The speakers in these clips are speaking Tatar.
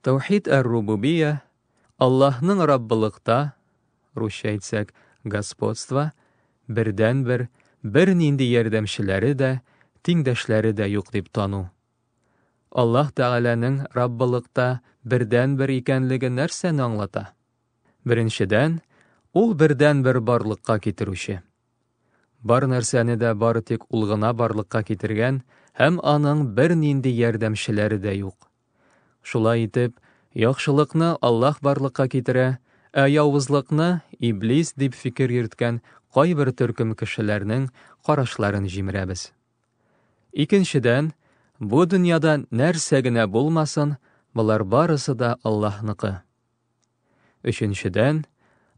Тәүхид әр-рубубия, Аллаһның Раббылыкта, русча әйтсәк, господство, бердәнбер, бернинди ярдәмчеләре дә, тиңдәшләре дә юк дип тану. Аллаһ Тәгаләнең Раббылыкта бердәнбер икәнлеге нәрсәне аңлата? Беренчедән, ул бердәнбер барлыкка китерүче. Бар нәрсәне дә бары тик ул гына барлыкка китергән һәм аның бернинди ярдәмчеләре дә юк. Шулай итеп, яхшылыкны Аллаһ барлыкка китерә, ә явызлыкны Иблис дип фикер йөрткән кайбер төркем кешеләрнең карашларын җимерәбез. Икенчедән, бу дөньяда нәрсә генә булмасын, болар барысы да Аллаһныкы. Өченчедән,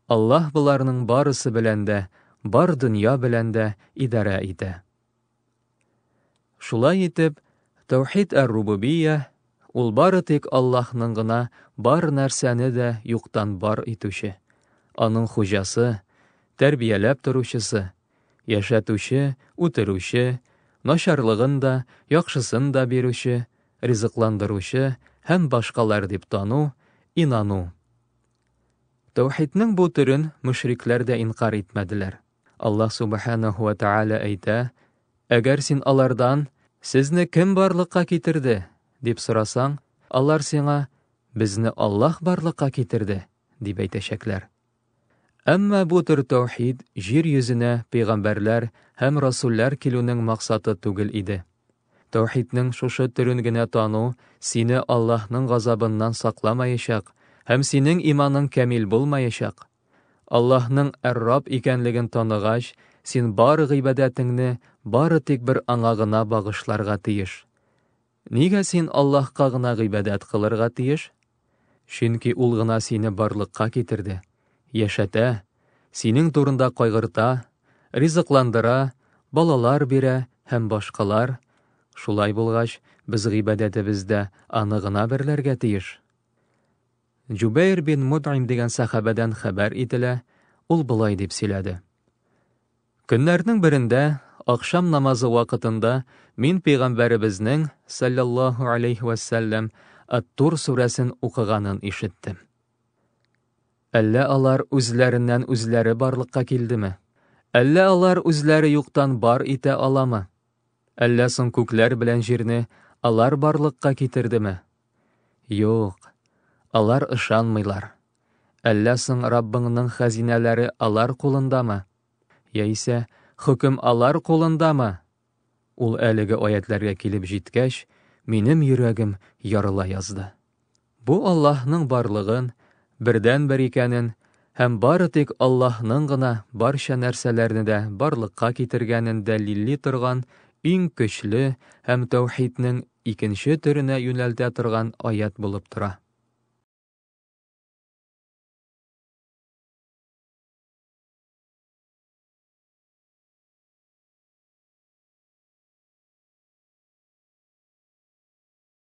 Аллаһ боларның барысы белән дә, бар дөнья белән дә идарә итә. Шулай итеп, Таухид әр-Рубубия, ул бары тик Аллаһның гына бар нәрсәне дә юктан бар итүче, аның хуҗасы, тәрбияләп торучысы, яшәтүче, үтерүче, начарлыгын да, яхшысын да бирүче, ризыкландыручы һәм башкалар дип тану, инану. Таухидның бу төрен мөшрикләр дә инкар итмәделәр. Аллаһ Субханаху ва Тааля әйтә, Әгәр син алардан, Сезне кем барлыкка китерде? дип сорасаң, алар сиңа, Безне Аллаһ барлыкка китерде, дип әйтәчәкләр. Әмма бу төр таухид җир йөзенә пәйгамбәрләр һәм расуллар килүнең максаты түгел иде. Таухидның шушы төрен генә тану сине Аллаһның газабыннан сакламаячак һәм синең иманың камил булмаячак. Аллаһның Әр-Рабб икәнлеген таныгач, син бары гыйбадәтеңне бары тик бер Аңа гына багышларга тиеш. Нигә син Аллаһка гына гыйбадәт кылырга тиеш? Чөнки Ул гына сине барлыкка китерде, яшәтә, синең турында кайгырта, ризыкландыра, балалар бирә һәм башкалар. Шулай булгач, без гыйбадәтебездә Аны гына берләргә тиеш. Җубәйр бин Мөт'им дигән сәхабәдән хәбәр ителә, ул болай дип сөйләде. Көннәрнең берендә, ахшам намазы вакытында, мин пәйгамбәребезнең, саллаллаһу алейхи вә сәлләм, Ат-Тур сүрәсен укыганын ишеттем. Әллә алар үзләреннән үзләре барлыкка килдеме? Әллә алар үзләре юктан бар итә аламы? Әллә соң күкләр белән җирне алар барлыкка китердеме? Юк, алар ышанмыйлар. Әллә соң Раббыңның хәзинәләре алар кулындамы? Яисә хөкем алар кулындамы? Ул әлеге аятләргә килеп җиткәч, минем йөрәгем ярыла язды. Бу Аллаһның барлыгын, бердәнбер икәнен һәм бары тик Аллаһның гына барча нәрсәләрне дә барлыкка китергәнен дәлилли торган иң көчле һәм тәүхиднең икенче төренә юнәлтә торган аять булып тора.